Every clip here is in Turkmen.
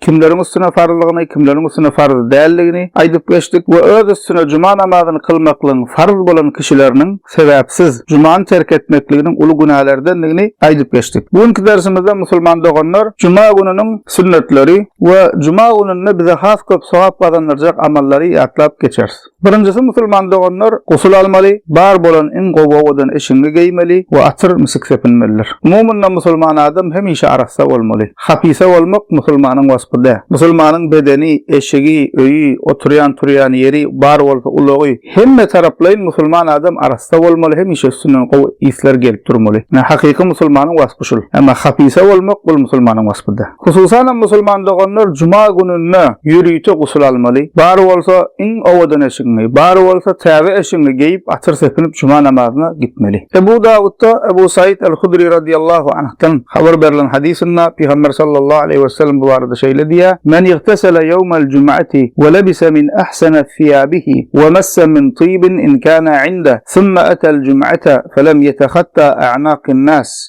kimleriň üstüne farzlygyny, kimleriň üstüne farz däldigini aýdyp geçdik we öz üstüne juma namazyny kylmaklygyň farz bolan kişileriniň sebäpsiz jumany terk etmekliginiň uly günälerdendigini aýdyp geçdik. Bu günki dersimizde musulman doganlar juma gününiň sünnetleri we juma gününde bize has köp sogap gazandyrjak amallary ýatlap geçeris. Birinjisi musulman doganlar gusl almaly, bar bolan iň gowy owadan eşigiňi geýmeli we atyr, misik sepinmelidir. Umumynda musulman adam hemişe arassa bolmaly. Hapysa bolmak musulmanyň waspy däl. Musulmanyň bedeni, eşigi, öýi, oturýan, turýan ýeri, bar bolsa ulagy, hemme taraplaýyn musulman adam arassa bolmaly, hemişe üstünden gowy yslar gelip durmaly. Hakyky musulmanyň waspy şul. Emma hapysa bolmak bul musulmanyň waspy däl. Hususanam musulman doganlar juma gününde ýörite gusl almaly, bar bolsa iň owadan eşigiňi, bar bolsa täze eşigiňi geýip atyr sepinip juma namazyna gitmeli. Ebu Dawudda Ebu Saýid al-Hudri radiyallahu anhdan habar berlen hadysynda Pygamber sallallahu aleýhi we sellem bu barada şeýle diýýär, Men igtesele ýewmel jum'ati we lebise min ahsana thiýabihi we massa min tibin in kana indeh, thumma atal jum'ata fe lem yetehatta a'naqin nas,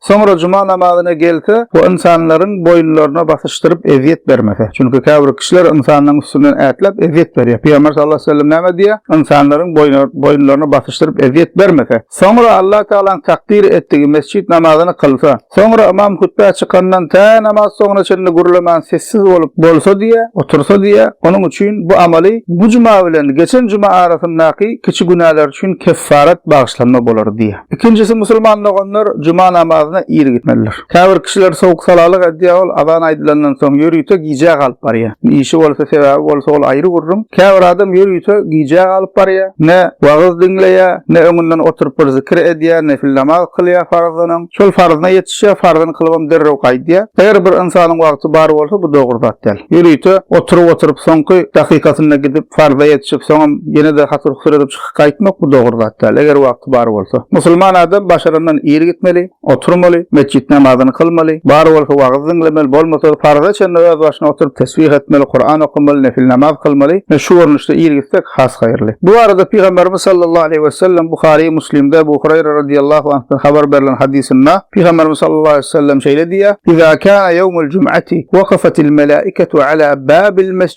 Soňra juma namazyna gelse we ynsanlaryň boýunlaryna basyşdyryp ezýet bermese. Çünki käbir kişiler ynsanlaryň üstünden ätläp ezýet berýär. Pygamber sallallahu aleýhi we sellem näme diýýär? Ynsanlaryň boýunlaryna basyşdyryp ezýet bermese. Soňra Allah Tagalaň takdyr etdigi mesjit namazyny kylsa. Soňra ymam hutbä çykandan tä namaz soňuna çenli gürlemän sessiz bolup bolsa diýýär, otursa diýýär. Onuň üçin bu amaly bu juma bilen geçen juma arasyndaky kiçi günäler üçin keffaret, bagyşlanma, bolar diýýär. Ikinjisi musulman doganlar juma namazyna ir gitmelidir. Käbir kişiler sowuk-salalyk edýär, ol azan aýdylandan soň ýörite gijä galyp barýar. Işi bolsa, sebäbi bolsa ol aýry gürrüň. Käbir adam ýörite gijä galyp barýar, ne wagyz diňleýär, ne öňünden oturyp bir zikir edýär, nefil namaz kylýar farzdan öň. Şol farzyna ýetişýär, farzyny kylybam derrew gaýdýar. Eger bir ynsanyň wagty bar bolsa, bu dogry zat däl. Ýörite oturyp-oturyp soňky dakykasynda gidip farza ýetişip, soňam ýene-de hatyr-husur edip çykyp. Gaýtmak bu dogry zat däl, eger wagty bar bolsa. Musulman adam başarandan ir gitmeli, oturmaly, metjit namazyny kylmaly, bar bolsa wagyz diňlemeli, bolmasa farza çenli öz başyna oturyp tesbih etmeli, Kuran okamaly, nefil namaz kylmaly we şu görnüşde ir gitsek has haýyrly. Bu barada Pygamberimiz sallallahu aleýhi wesellem Buhary, Muslimde Ebu Hureýre radiyallahu anhdan habar berlen hadysynda Pygamberimiz sallallahu aleýhi wesellem şeýle diýýär, Iza kana ýewmul jum'ati wakafatil melaiketu ala babil mes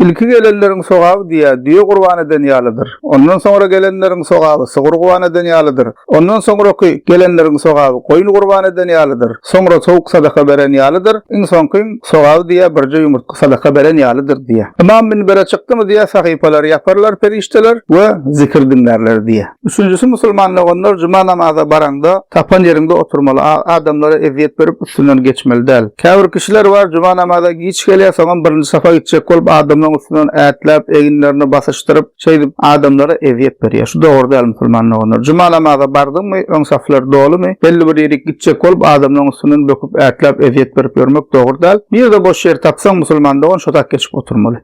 Ilki gelenleriň sogaby düýä, düýe gurban eden ýalydyr. Ondan soňra gelenleriň sogaby sygyr guban eden ýalydyr. Ondan soňraky gelenleriň sogaby goýun gurban eden ýalydyr. Soňra towuk sadaka beren ýalydyr. Iň soňkyň sogaby düýä birje ýumurtga sadaka beren ýalydyr diýýär. Ymam minbere çykdymy düýä sahypalary ýaparlar perişdeler we zikir diňlärler diýýär. Üçünjisi musulman doganlar juma namaza baraňda tapan ýeriňde oturmaly, adamlara ezýet berip üstünden geçmeli däl. Käbir kişiler bar juma namaza giç gelýär soňam birinji safa gitjek bolup adamlaryň üstünden ätläp eginlerini basyşdyryp şeýdip adamlara ezýet berýär şu dogry däl musulman doganlar juma namaza bardyňmy öň saflar dolymy belli bir ýerik gitjek bolup adamlaryň üstünden böküp ätläp ezýet berip ýörmek dogry däl nirde boş ýer tapsaň musulman dogan şotak geçip oturmaly.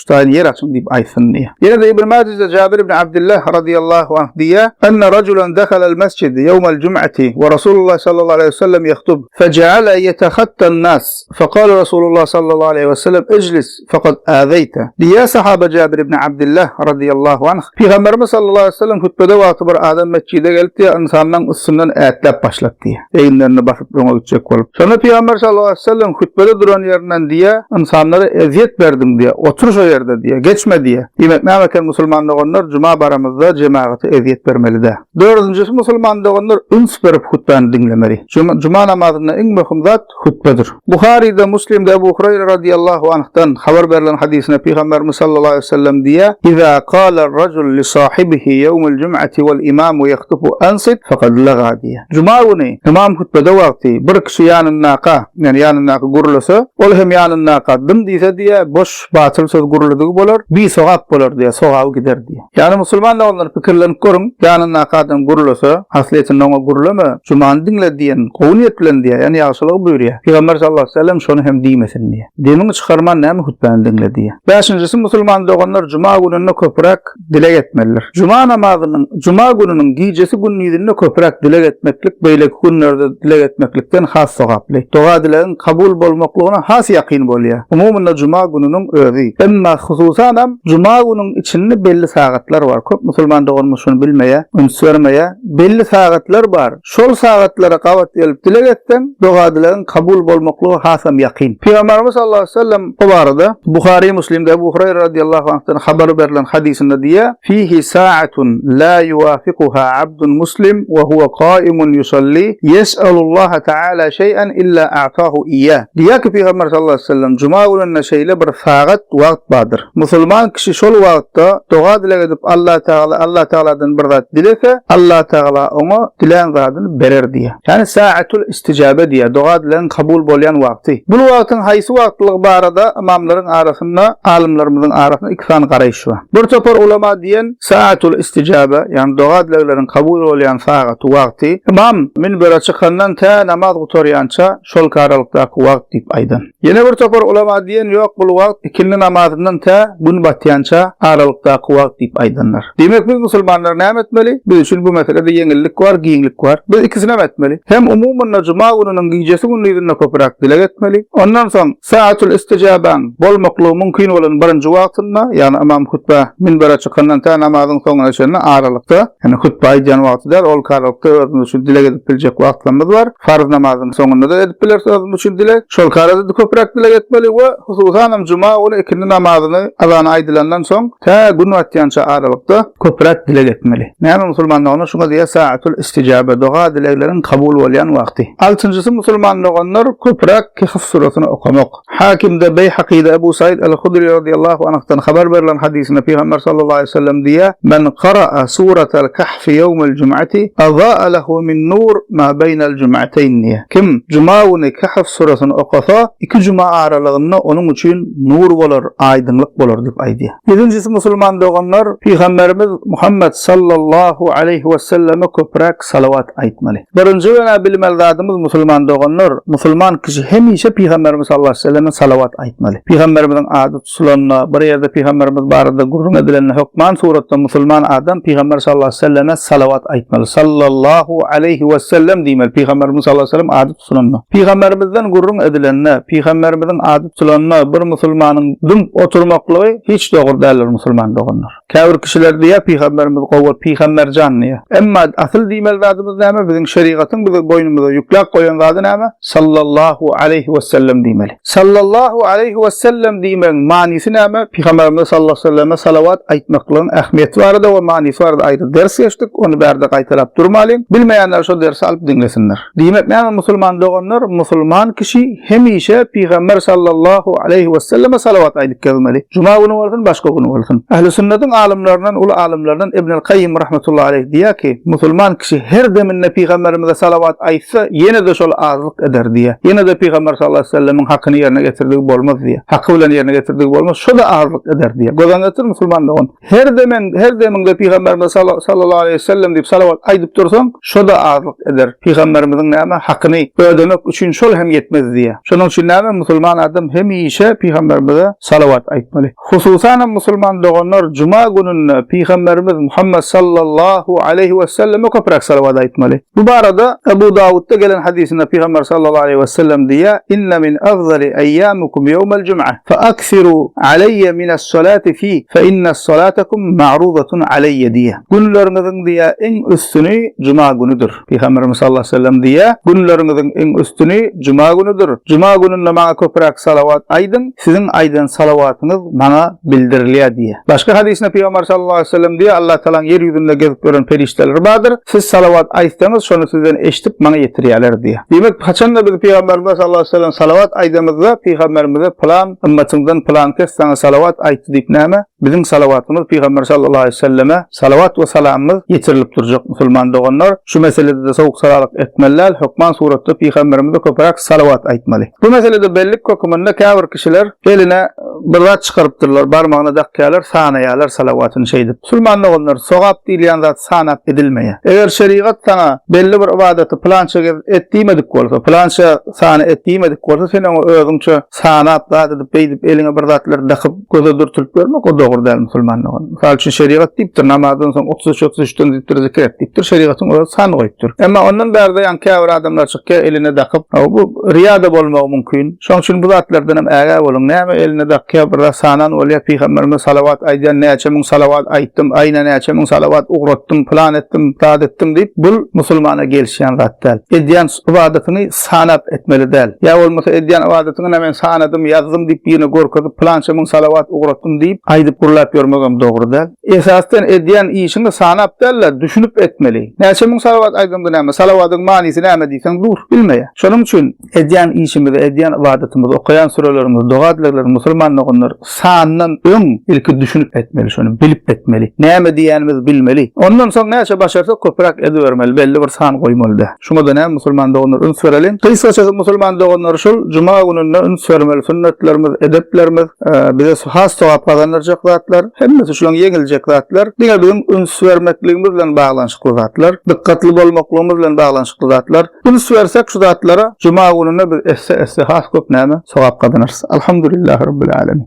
Hudaýyň ýer açyň diýip aýtsyn diýýär. Ýene-de Ibn Majede Jabir ibn Abdullah radiyallahu anh diýýär, Enne raculan dehalel mesjid ýewmel jum'ati we Rasulullah sallallahu aleýhi we sellem yehtub, fece'ale yetehattan nas, fekale Rasulullah sallallahu aleýhi we sellem iclis fekad azeýte. Diýýär sahaba Jabir ibn Abdullah radiyallahu anh, Pygamberimiz sallallahu aleýhi we sellem hutbede wagty bir adam mesjide gelipdi, ynsanlaň üstünden ätläp başlapdy, eginlerini basyp, öňe gitjek bolup. Şonda Pygamber sallallahu aleyhi ve sellem hütbede duran ýerinden diýýär, Ynsanlara ezýet berdiň diýýär, otur şo ýerde diýýär, geçme diýýär. Diýmek näme eken musulman doganlar juma baramyzda jemagata ezýet bermelidä. Dördünjisi musulman doganlar üns berip hutbany diňlemeli. Juma namazynda iň möhüm zat hutbedir. Buharyda, Muslimde Ebu Hureyre radiyallahu anhdan habar berlen hadysynda Pygamberimiz sallallahu aleyhi ve sellem diýýär, Iza qala racul li sahibihi yevmul cum'ati wal imamu yahtubu ansit faqad laga diýýär. Juma güni ymam hutbede wagty bir kişi ýanyndaka, ýani ýanyndaky gürlese, ol hem ýanyndaka dym diýse diýýä, boş, batyl söz gürledigi bolar, bisogap bolar diýýä, sogaby gider diýýä. Ýani musulman doganlar pikirlenip görüň, ýanyndaka adam gürlese, haslyýetinde oňa gürleme, jumany diňle diýen gowy niýet bilen diýýä, ýani ýagşylygy buýurýa. Pygamber sallallahu aleyhi ve sellem şony hem diýmesin diýýä. Demiňi çykarman näme hutbäni diňle diýýä. Bäşinjisi musulman doganlar juma gününde köpräk dileg etmelidir. Juma namazynyň, juma gününiň gijesi gündizinde köpräk dileg etmeklik beýleki günlerde dileg etmeklikden has sogaply. Doga-dilegiň kabul bolmaklygyna has ýakyn bolýar. Umumynda juma gününiň özi. Emma hususanam juma günüň içinde belli sagatlar bar. Köp musulman doganymyz şuny bilmeýär, üns bermeýär. Belli sagatlar bar. Şol sagatlara gabat gelip dileg etseň, doga-dilegiň kabul bolmaklygy hasam ýakyn. Pygamberimiz sallallahu aleýhi we sellem bu barada Buhary, Müslimde Ebu Hureýre radyllahu anhdan habar berlen hadysynda diýýär, Fihi sa'atun la yuwafikuha abdun muslim we huwa kaimun yusalli yes'alullaha ta'ala şeý'an illa a'tahu iyya. Diýýär ki, Pygamber sallallahu aleýhi we sellem, Juma gününde şeýle bir sagat, wagt bardyr. Musulman kişi şol wagtda doga-dileg edip Allatagala Allatagaladan bir zat dilese, Allatagala oňa dilän zadyny berer diýýär. Ýagny saatul istijabe diýýär, doga-dilegiň kabul bolýan wagty. Bu wagtyň haýsy wagtlygy barada ymamlaryň arasynda, alymlarymyzyň arasynda iki sany garaýyş bar. Bir topar ulama diýen saatul istijabe, ýagny doga-dilegleriň kabul bolýan sagaty, wagty, ymam minbere çykandan tä namaz gutarýança, şol karalykdaky wagt diýip aýdan. Ýene bir topar ulama diýen ýok bul wagt ikindi namazyndan tä gün batýança aralykdaky wagt diýip aýdanlar. Diýmek biz musulmanlar näme etmeli? Biz üçin bu meselede ýeňillik bar, giňlik bar. Biz ikisinem etmeli. Hem umumynda juma gününiň gijesi gündizinde köpüräk dileg etmeli. Ondan soň Saatül istijabäň bolmaklygy mümkin bolan birinji wagtynda, ýagny ymam hutbä minbere çykandan tä namazyň soňuna çenli aralykda, ýagny hutba aýdýan wagty däl, ol karalykda özümiz üçin dileg edip biljek wagtlarymyz bar. Farz namazyň soňunda-da edip bileris özümiz üçin dileg. Şol karada-da köpräk dileg etmeli we hususanam juma güni ikindi namazyny azany aýdylandan soň tä gün batýança aralykda köpräk dileg etmeli. Näme musulmandoganlar şuňa diýýär saatül istijabe, doga-dilegleriň kabul bolýan wagty. Altynjysy musulman doganlar köpräk Kehf surasyny okamak. Hakimde, Beýhakyda Ebu Saýid al-Hudry radiyallahu anhdan habar berlen hadysynda Pygamber sallallahu aleýhi we sellem diýýär, Men kara'a suratal Kehfi ýewmel jum'ati aza'a lehu min nur ma beýnel jum'ateýn diýýär. Kim juma güni Kehf surasyny okasa, iki juma aralygynda onuň üçin nur bolar, aýdyňlyk bolar diýip aýdýar. Ýedinjisi musulman doganlar, Pygamberimiz Muhammet sallallahu aleýhi we selleme köpräk salawat aýtmaly. Birinji günä bilmeli zadymyz musulman doganlar, musulman kişi hemişe pygamberimiz sallallahu aleýhi weselleme salawat aýtmaly. Pygamberimiziň ady tutulanda, bir ýerde pygamberimiz barada gürrüň edilende hökman suratda musulman adam pygamber sallallahu aleýhi weselleme salawat aýtmaly. Sallallahu aleýhi wesellem diýmeli pygamberimiziň sallallahu aleýhi wesellem ady tutulanda. Pygamberimizden gürrüň edilende, pygamberimiziň ady tutulanda bir musulmanyň dymyp oturmaklygy hiç dogry däldir musulman doganlar. Käbir kişiler diýýär pygamberimiz gowy pygamberjan diýýär. Emma asyl diýmeli zadymyz näme biziň şerigatyň biziň boýnumyza ýükläp goýan zady näme sallallahu aleýhi wesellem diýmeli. Sallallahu aleýhi wesellem diýmegiň manysy näme pygamberimize sallallahu aleýhi weselleme salawat aýtmaklygyň ähmiýeti barada we manysy barada aýry ders geçdik ony bärde gaýtalap durmalyň bilmeýänler şo dersi alyp diňlesinler. Diýmek näme musulman doganlar, musulman kişi hemişe Pygamber sallallahu aleýhi weselleme salawat aýdyp gezmeli. Juma güni bolsun, başga güni bolsun. Ähli sünnetin alymlaryndan, uly alymlaryndan Ibnül Kayyym rahmetullahi aleýh diýýär ki, musulman kişi her deminde Pygamberimize salawat aýtsa, ýene-de şol azlyk eder diýýär. Ýene-de Pygamber sallallahu aleýhi wesellemiň hakyny ýerine getirdigi bolmaz diýýär. Haky bilen ýerine getirdigi bolmaz, şo-da azlyk eder diýýär. Göz öňüne getir musulman dogan. Her demen, her demiňde pygamberimize sallallahu aleýhi we sellem diýip salawat aýdyp dursaň, şo-da azlyk eder. Pygamberimiziň näme hakyny ödemek üçin şol hem ýetmez diýýär. Şonuň üçin näme musulman adam hemişe pygamberimize salawat aýtmaly. Hususan hem musulman doganlar juma gününde pygamberimiz Muhammet sallallahu aleýhi we selleme köpräk salawat aýtmaly. Bu barada Ebu Dawudda gelen hadysynda Pygamber sallallahu aleýhi we sellem diýýär, Inne min afzali eýýamikum ýewmel jum'a, fe aksiru aleýe mines salati fi, fe inne salatakum ma'rudatun aleýe diýýär. Günleriňiziň diýýär iň üstüni juma günüdir. Pygamberimiz sallallahu aleýhi we sellem diýýär, Günleriňiziň iň üstüni juma günüdir. Juma gününde maňa köpräk salawat aýdyň. Siziň aýdan salawatyňyz maňa bildirilýär diýýär. Başga hadysynda Pygamber sallallahu aleýhi we sellem diýýär, Allah Tagalaň ýer ýüzünde gezip ýören perişdeleri bardyr, siz salawat aýtsaňyz, şony sizden eşidip maňa ýetirýärler diýýär. Diýmek, haçan-da biz Pygamberimize sallallahu aleýhi we sellem salawat aýdamyzda, Pygamberimize Pylan ymmatyňdan pylan kes saňa salawat aýtdy diýip näme, biziň salawatymyz Pygamber sallallahu aleýhi we selleme Salawat we salamymyz ýetirilip durjak musulman doganlar, şu meselede-de sowuk-salalyk etmeli däl, hökman suratda pygamberimize köpüräk salawat aýtmaly. Bu meselede bellik höküminde käbir kişiler eline bir zat çykarypdyrlar, barmagyna dakýarlar, sanaýarlar salawatyny şeýdip. Musulman doganlar, sogap diýilýän zat sanap edilmeýär. Eger şerigat saňa belli bir ybadaty pylança gez et diýmedik bolsa, pylança sany et diýmedik bolsa, sen oňa özüňçe sanap, zat edip, beýdip, eliňe bir zatlar dakyp, Göze dürtülip görmek o dogry däl musulmanlygyň. Mysal üçin şerigat diýipdir, namazdan soň otuz üç otuz üçden diýipdir zikir et diýipdir, şerigatyň özi san goýupdyr. Emma ondan bärde ýaňy käbir adamlar çykýar eline dakyp, hawa bu riýa-da bolmagy mümkin. Şoň üçin bu zatlardan hem ägä boluň. Näme eline dakýar, bir zat sanan bolýar, pygamberimize salawat aýdýar, näçe müň salawat aýtdym, aýna näçe müň salawat ugratdym, pylan etdim, zat etdim diýip, bul musulmana gelişýän zat däl. Edýän ybadatyňy Sanap etmeli däl. Ýa bolmasa edýän ybadatyňa-da men sanadym, ýazdym diýip birine görkezip, pylança müň salawat ugratdym diýip, aýdyp gürläp ýörmegem dogry däl. Esasdan edýän işiňi sanap däl-de, düşünip etmeli. Näçe müň salawat aýdanda näme, salawadyň manysy näme diýseň dur, bilmeýär. Şonuň üçin edýän işimizi, edýän ybadatymyzy, okaýan sürelerimizi, doga-dileglerimizi musulman doganlar sandan öň ilki düşünip etmeli şony, bilip etmeli. Näme diýýänimizi bilmeli. Ondan soň näçe başarsak köpräk edibermeli, belli bir san goýmaly däl. Şuňa da näme musulman doganlar üns bereliň. Gysgaça siz musulman doganlar şul juma gününde üns bermeli sünnetlerimiz, edeplerimiz bize has sogap gazandyrjak zatlar, hemmesi şulaň ýeňiljek zatlar. Diňe biziň üns bermekligimiz bilen baglanyşykly zatlar, dykgatly bolmaklygymyz bilen baglanyşykly zatlar. Üns bersek şu zatlara juma gününde biz esse-esse has köp näme sogap gazanarys. Alhamdulillah Rabbil Alemin.